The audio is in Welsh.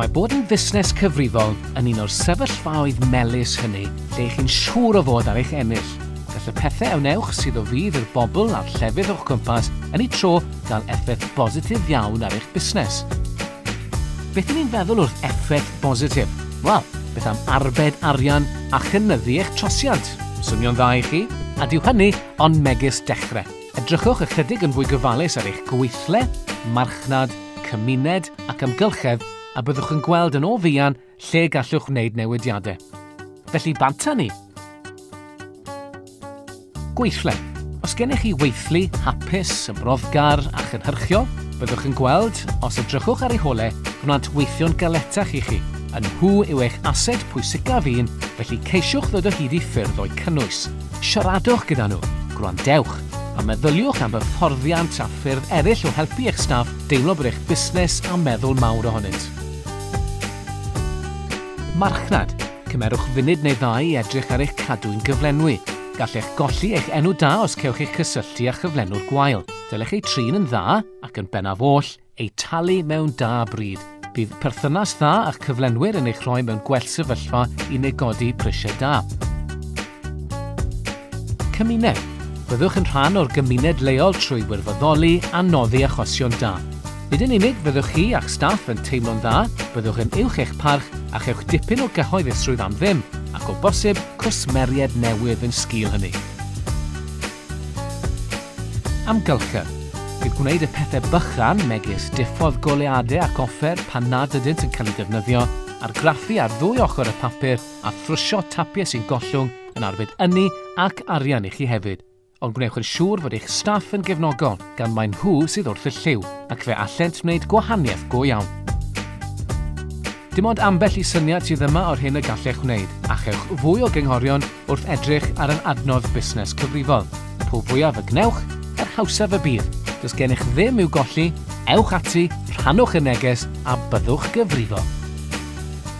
Mae bod yn fusnes cyfrifol yn un o'r sefyllfaoedd melus hynny lle chi'n siŵr o fod ar eich ennill. Gall y pethau a wnewch sydd o fydd i'r bobl a'r llefydd o'ch cwmpas yn ei tro gael effaith bositif iawn ar eich busnes. Beth ni'n feddwl wrth effaith bositif? Wel, beth am arbed arian a chynyddu eich trosiant? Swnio'n dda i chi? A dyw hynny ond megis dechrau. Edrychwch ychydig yn fwy gofalus ar eich gweithle, marchnad, cymuned ac amgylchedd a byddwch yn gweld yn o fuan lle gallwch wneud newidiadau. Felly bant â ni! Gweithle. Os gennych chi weithlu hapus, yn broddgar a chynhyrchiol, byddwch yn gweld, os edrychwch ar ei hole, gwnaeth weithio'n galetach i chi. Yn nhw yw eich ased pwysicaf un, felly ceisiwch ddod o hyd i ffyrdd o'u cynnwys. Siaradwch gyda nhw, gwrandewch, a meddyliwch am hyfforddiant a ffyrdd eraill o helpu eich staff deimlo bod eich busnes a meddwl mawr ohonynt. Marchnad, Cymerwch funud neu ddau i edrych ar eich cadwyn gyflenwi. Gallech golli eich enw da os cewch eich cysylltu â chyflenwr gwael. Dylech eu trin yn dda, ac yn bennaf oll, eu talu mewn da bryd. Bydd perthynas dda â'ch cyflenwyr yn eich rhoi mewn gwell sefyllfa i negodi prisiau da. Cymuned. Byddwch yn rhan o'r gymuned leol trwy wirfoddoli a noddi achosion da. Nid yn unig fyddwch chi a'ch staff yn teimlo'n dda, byddwch yn uwch eich parch a chewch dipyn o gyhoeddusrwydd am ddim, ac o bosib cwsmeriaid newydd yn sgil hynny. Amgylchedd. Bydd gwneud y pethau bychan, megis diffodd goleuadau ac offer pan nad ydynt yn cael eu defnyddio, argraffu ar ddwy ochr y papur, a thrwsio tapiau sy'n gollwng yn arbed ynni ac arian i chi hefyd. Ond gwnewch yn siŵr fod eich staff yn gefnogol, gan mae nhw sydd wrth y lliw, ac fe allent wneud gwahaniaeth go iawn. Dim ond ambell i syniad sydd yma o'r hyn y gallech wneud, a chewch fwy o gynghorion wrth edrych ar yr adnodd busnes cyfrifol. Po fwyaf y gwnewch, yr hawsaf y bydd. Does gennych ddim i'w golli, ewch ati, rhannwch y neges a byddwch gyfrifol.